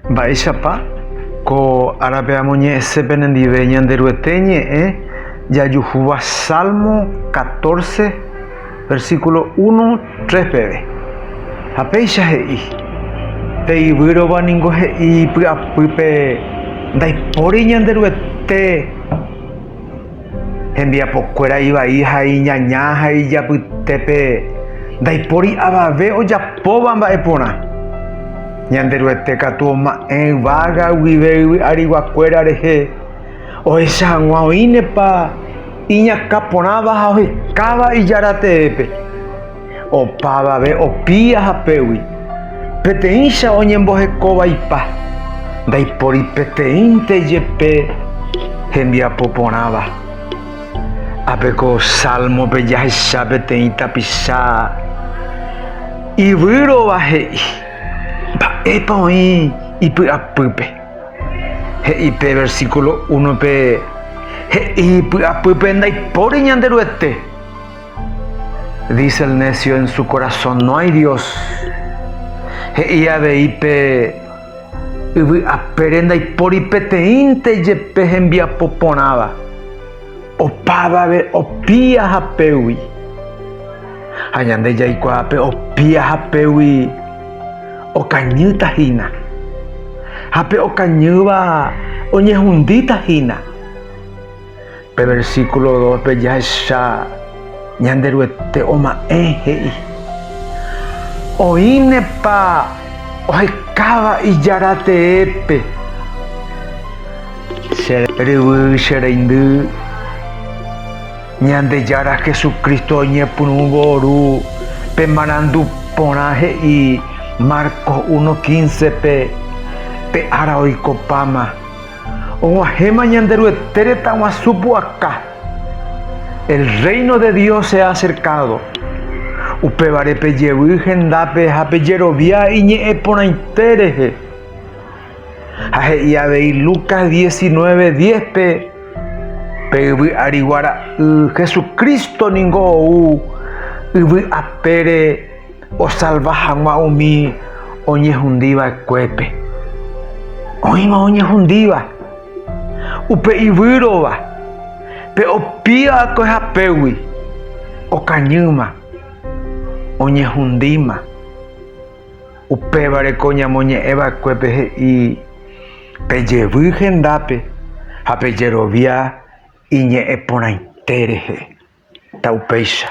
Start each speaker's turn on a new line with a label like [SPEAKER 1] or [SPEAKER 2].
[SPEAKER 1] Mba'éichapa ko árape amoñe'ẽse penendive Ñanderuete ñe'ẽ jajuhúva Salmo catorce, versículo uno, tres peve. Ha péicha he'i, Pe yvýrova ningo he'i py'apýpe, Ndaipóri Ñanderuete. Hembiapokuéra ivai ha iñaña ha ijapytépe ndaipóri avave ojapóva mba'e porã. Ñanderuete katu oma'ẽ yvága guive yvy ariguakuéra rehe, ohecha hag̃ua oĩnepa iñakã porãva ha ohekáva Ijára teépe. Opavave opi ahapégui, peteĩcha oñemboheko vaipa, ndaipóri peteĩnte jepe hembiapo porãva. Ápe ko Sálmope jahecha peteĩ tapicha ivýrova he'i mba'épa oĩ ipy'apýpe. He'i pe versíkulo únope he'i ipy'apýpe ndaipóri Ñanderuete. Dice el necio en su corazón, no hay Dios. He'i avei pe yvy apére ndaipóri peteĩnte jepe hembiapo porãva, opávave opia hapégui. Ha ñande jaikuaa pe opia hapégui okañýta hína, ha pe okañýva oñehundíta hína. Pe versículo dóspe jahecha Ñanderuete oma'ẽ he'i, Oĩnepa ohekáva ijára teépe, che ryvy, che reindy, Ñandejára Jesucristo oñepyrũvo oru, pe marandu porã he'i Marcos 1:15-pe, pe ára oikopáma. Og̃uahẽma Ñanderuete retãguasu pu'aka. El Reino de Dios se ha acercado. Upévare pejevy hendápe ha pejerovia iñe'ẽ porãite rehe. Ha he'i avei Lucas 19:10-pe, Pe yvy arigua ra'y Jesucristo ningo ou yvy apére Osalva hag̃ua umi oñehundi va'ekuépe. Oĩva oñehundíva, upe ivýrova, pe opía va'ekue hapégui, okañýma, oñehundíma. Upévare ko ñamoñe'ẽ va'ekuépe he'i, Pejevy hendápe ha pejerovia iñe'ẽ porãite rehe. Ta upéicha.